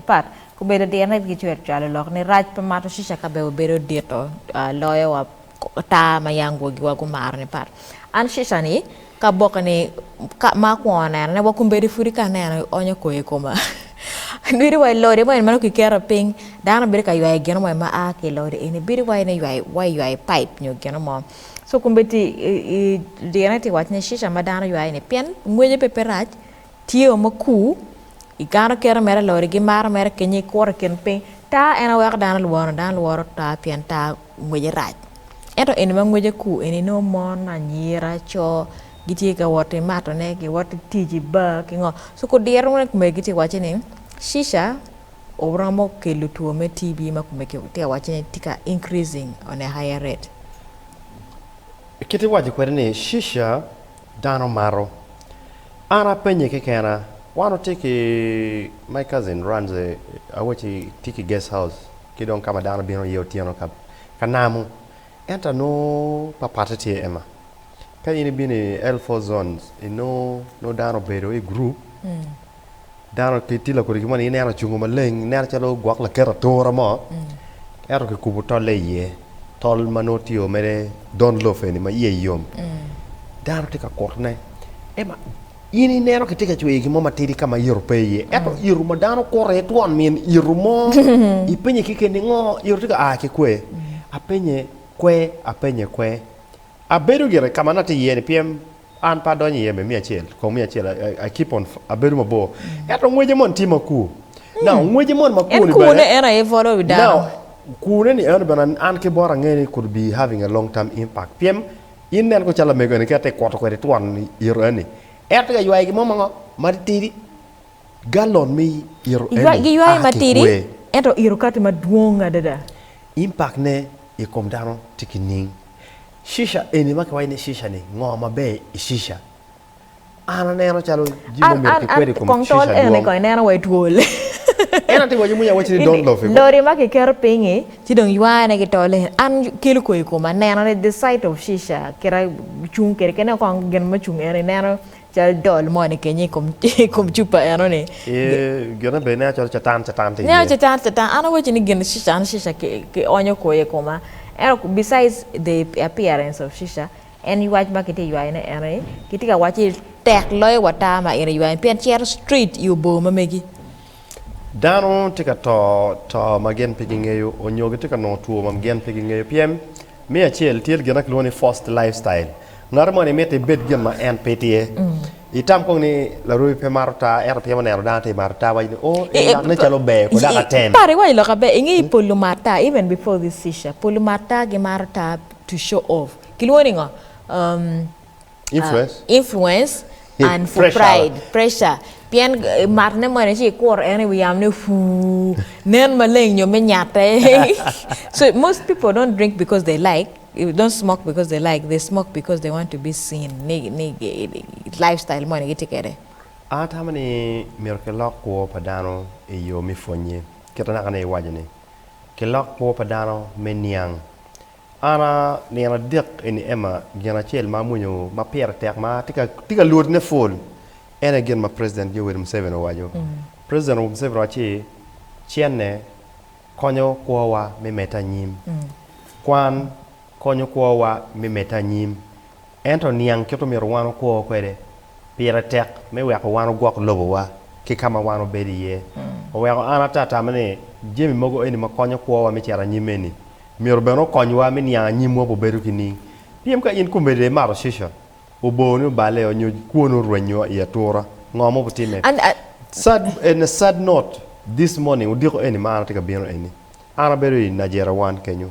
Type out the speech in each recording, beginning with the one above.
pat. Obedo dirne pi kicwero cwalo lok ni rac pa mato cica ka bene wabedo dito loyo wa ata ma ya angwogiwa gumaro ni pat. An cica ni ka aboke ni ka ma akwongo neno ne wa kombeddi pudi ka aneno onyo koyo i koma nweri wa i lodi mo en meno kiketo piny dano bedo ka ywayo gino mo en ma a ki ilodi eni bedo wai ni ywayo wa ywayo pipe nyo gino mo co kombeddi i dirne ti wac ni cica ma dano ywayo ni pien ngwece pe pe rac Tye o ma ku, igano keto mere lori gi maro mere kenyo ikuro ikin piny. Taa en aye weko dano lworo, dano lworo taa pien taa ngwece rac. Ento eni ma ngwece ku eni nongo mon, anyira, co gitye ka wot ki matone, ki wot ki tic i bar ki ngo. So ku diro wunu kume gitye ka waco ni cica oromo kelo two me TB ma kume ki tye ka waco ni tye ka increasing on a higher rate. Kit iwaco kwede ni cica Dano mato. An apenye kekena, wan watye ki my cousin runs a awaci tye ki guest house ki dong kama dano bino iye otyeno ka ka namu ento anongo papatte tye Emma ka in ibino i L four zones inongo nongo dano obedo i group Dano pe tye lakodi ki moni ineno ocungo maleng ineno calo gwok laket atura mo ento kikubo tolle iye tol ma nongo tye o mere don lof eni ma iye yom dano tye ka kutone ema in ineno kitye ka cweyo gimo matidi ka ma ito pe iye ento ito ma dano okuto iye twon min ito mo ipenye keken ni ngo ito tye ka a ki kwe apenye kwe apenye kwe abedo gire ka ma an atye iye ni pien An pe adonyo iye me miya acel, kong miya acel, I keep on, abedo mabor. Ento ngwece moni tye makur. Now, ngwece moni makur-ni bene. En kurne en aye bolo wi dano. Now, kurne-ni eno bene an ki bot angeyo ni could be having a long term impact. Pien in nen ko calo lamego-ni ki ati kuto kwede twon ito eni, en tye ka ywayo gin mo mango matitidi, gallon me ito eni a ki kwer. Giywaye matidi, ento ito kati madwong adada. Impact-ne i kom dano tye ki ning? Shisha eni ma kiwaco ni shisha ni ngo maber i shisha? An aneno calo jami ma omyero kikwed i kom shisha dwong. En aye tye waco moni awaci ni don't lof i kom. Lori ma kiketo piny i ci dong ywaya ne ki tol eni an kelo kor i koma neno ni the sight of shisha kit acung kwede kene kong gin mucung eni ineno. Cal dol moni kenyo i kom cupa enoni. Gine bene nen calo Catan Catan tye iye. Nen calo Catan Catan. An awacci ni gin Catan Cica ki onyo kwoyo i koma. Ento besides the appearance of Cica, en ywac ma kitye ka ywayo ne enoni, kitye ka waco ni tek loyo wa tar ma in iywayo ni pien cito straight i obor ma megi. Dano tye ka to to ma gin pe gingeyo onyo gitye ka nongo two ma gin pe gingeyo pien me acel tye gin ma kilwongo ni forced life style ngat moni mitte ibed gin ma en pe tye itam kong ni larwemi pe mato taa ento pien oneno dano tye ka mato taa waco ni o en lak ne calo ber ko dok atem. Pare iwaco lok aber inge ni pol lumat taa even before this issue pol lumat taa gimato taa to show off kilwongo ni ngo? influence and for pride pressure pien mat ne mwene ci ikuro en i wi yamo ne fuu nen maleng nyo me nyate so most people don't drink because they like don't smoke because they like they smoke because they want to be seen ni ni lifestyle moni gitye kede an atamo ni myero ki lok kwor pa dano i yo me pwonye kit anaka ni iwaco ni ki lok kwor pa dano me niang Ana, nino adek eni Emma, gin acel ma amwonyo ma pire tek ma tye ka lwodone pwol en aye gin ma President Yoweri Museveni owaco. President Museveni owaco ci cenne konyo kwowa me medde anyim. Kwan konyo kwowa me medde anyim. Ento niang kit omyero wan okwo kwede. Pire tek me weko wan ogwok lobowa ki ka ma wan obedo iye. Oweko an ate atamo ni jami mogo eni ma konyo kwowa me cito anyim eni myero bene okonywa me niang anyimwa bene bedo ki ning. Pien ka in komedde imato cica, oboo ni oballe, onyo kwoni orwenyo i atura, ngo ma obitime? Sad note, This morning, odiko eni ma an atye ka bino eni, An abedo i Najerawan kenyo,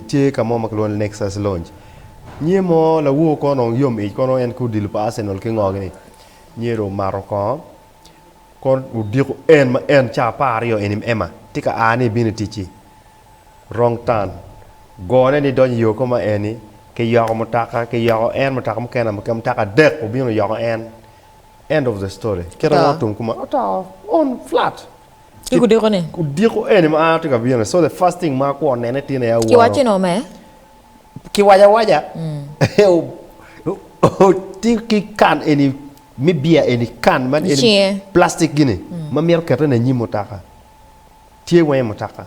tye ka mo ma kilwongo ni Nexus Lounge. Nyiye mo lawowo kono dong yom ic kono en ki odilo pa Arsenal ki ngogi ni. Nyiye dong omato kongo, kono odiko en ma en ca apar aryo eni ma Emma tye ka a ni ibino i ticci. Wrong turn. Gone ni idonyo i yo kong ma eni, kiyoko mutoka, kiyoko en mutoka mukene amuka, mutoka adek obino oyoko en. End of the story. Kit ma otum kuma, oto on flat. Ki kudiko ni. Kudiko eni ma an atye ka bino. So the first thing ma akwo nene tye ne aworo. Kiwacci no me. Kiwaco awaca. Ti ki can eni me beer eni can man eni. Icinge. Plastic gini ma mito kete ne anyim mutoka. Tye weng i mutoka.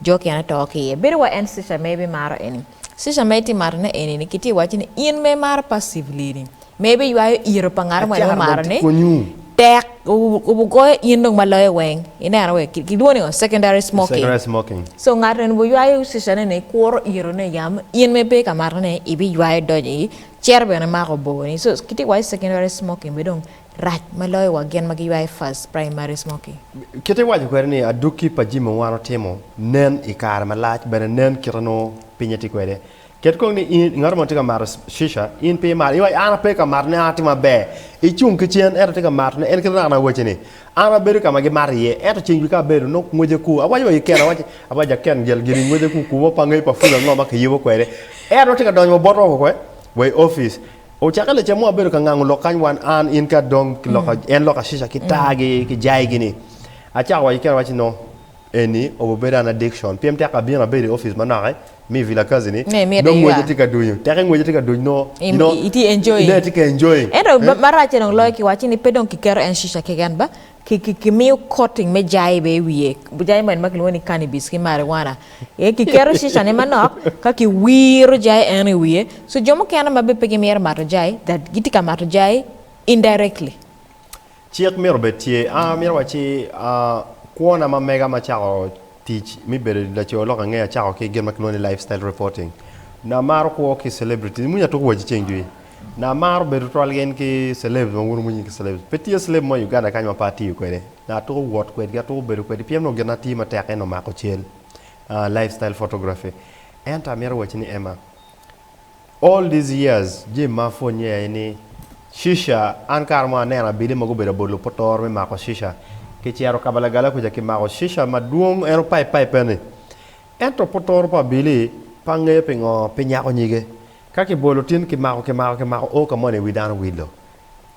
Jo kene oto ki iye. Bedo wa en Cesar maybe maro eni. Cesar ma itye mato ne eni ni ki tye iwaco ni in ma imaro passively ni maybe iywayo iro pa ngat mo en omaro ni tek obugoyo in dong ma loyo weng ineno we ki lwongo ni ngo secondary smoking so ngat eni obu ywayo Cesar ne ni kuro iro ne yam in ma ipe ka mato ne ibi ywayo donyo i cere bene mako bor ni so ki tye iwaco secondary smoking be dong Rac ma loyo wa gin ma giywayo first primary smoky. Kite iwaco kwede ni adwogi pa jami ma wan watimo nen i kare malac bene nen kite nongo pinye tye kwede. Ket kong ni in ngat mo tye ka mato shisha in pe imato iwac an ape ka matone an atye maber icung ki cen ento tye ka matone en kite naka naka waci ni an abedo ka ma gimato iye ento ceng dwe ka abedo nongo ngwece ku awaco wa ki keno awaci abac aken gel giri ngwece ku kubo pa ngeyo pa pul ango ma kiyubo kwede ento nongo tye ka donyo wa botwa wa koko wa i opic Ocakke lacam wa bedo ka ngango lok kany wan an, in ki Adong ki lok, en lok Ashisha ki Taa gi ki Jai gini. Acako wa keken awaci no eni obo bedo an addiction pien tek abino abedo i office manok eh me Vilakazi ni Ne imite dong ngwece ywa. tye ka dunyo tek ngwece tye ka duny no you Im- know i- itye enjoying. ne tye ka enjoying. Ento eh. ma- maracce dong loyo kiwaco ni pe dong kiketo en shisha keken ba Kimiyo coating me jai bene i wiye, jai moni ma kilwongo ni cannabis ki marijuana. Kiketo shishane manok ka kiwiro jai eno i wiye. So jo mukene ma bene pe gimito mato jai that gitye ka mato jai indirectly. Cik myero obed tye, a myero wa ci, a kwona ma mega ma acako Tic me bedo laco lok angeya cako ki gin ma kilwongo ni lifestyle reporting. Nanga amaro kwo ki celebrity ni moni atuk wa ci ceng jwi. Nanga amaro bedo twal gin ki celebs ma wun wumwonyo nying ki celebs. Pe tye celeb mo i Uganda kany ma pe atiyo kwede. Nanga atuko wot kwedgi, atuko bedo kwedgi pien onongo gin ma tiyo matek en omako cal, lifestyle photography. Ento amito wacci ni Emma, All these years Jim ma apwonye aye ni Shisha, an kare mo aneno abili mogo obedo bot lupotor me mako Shisha. Ki cito Kabalagala kuca ki mako Shisha madwong en opaip paipe ni. Ento potor pa abili pe angeyo pingo pe nyako nyige. Ka ki bolo tin ki mako ki mako ki mako oo ka moni wi dano wilo.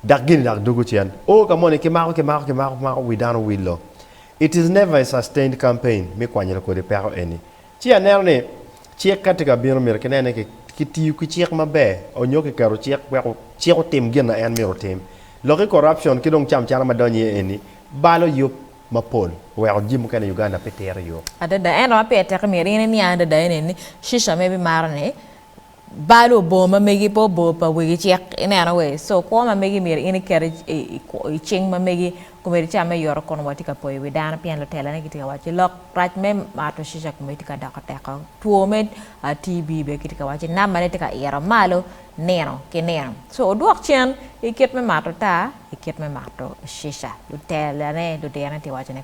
Dak gini dak dugu cen. Oo ka moni ki mako ki mako ki mako ki mako wi dano wilo. It is never a sustained campaign me kwanyilo kodi peko eni. Ci aneno ni cik ka tye ka bino myero kinen ni kitiyo ki cik maber onyo kiketo cik wek cik otim gin ma en myero otim. Lok i corruption ki dong camcana ma donyo iye eni balo yub mapol oweko jami mukene i Uganda pe tero i yo. Adada, ento ma pire teke myero in iniang adada ene ni, Shisha ma ibimaro ni, Bal obor ma megi pe obor pa wegi cik ineno we so kwo ma megi myero in iket i cing ma megi komedi ica me yoto kono watye ka poyo wi dano pien lutela ne gitye ka waco lok rac me mato cica komedi tye ka doko teko two me TB bene kitye ka waco number ne tye ka ito malo nino ki nino so odwok cen ikit me mato taa ikit me mato cica lutela ne ludiro ne tye ka wacone.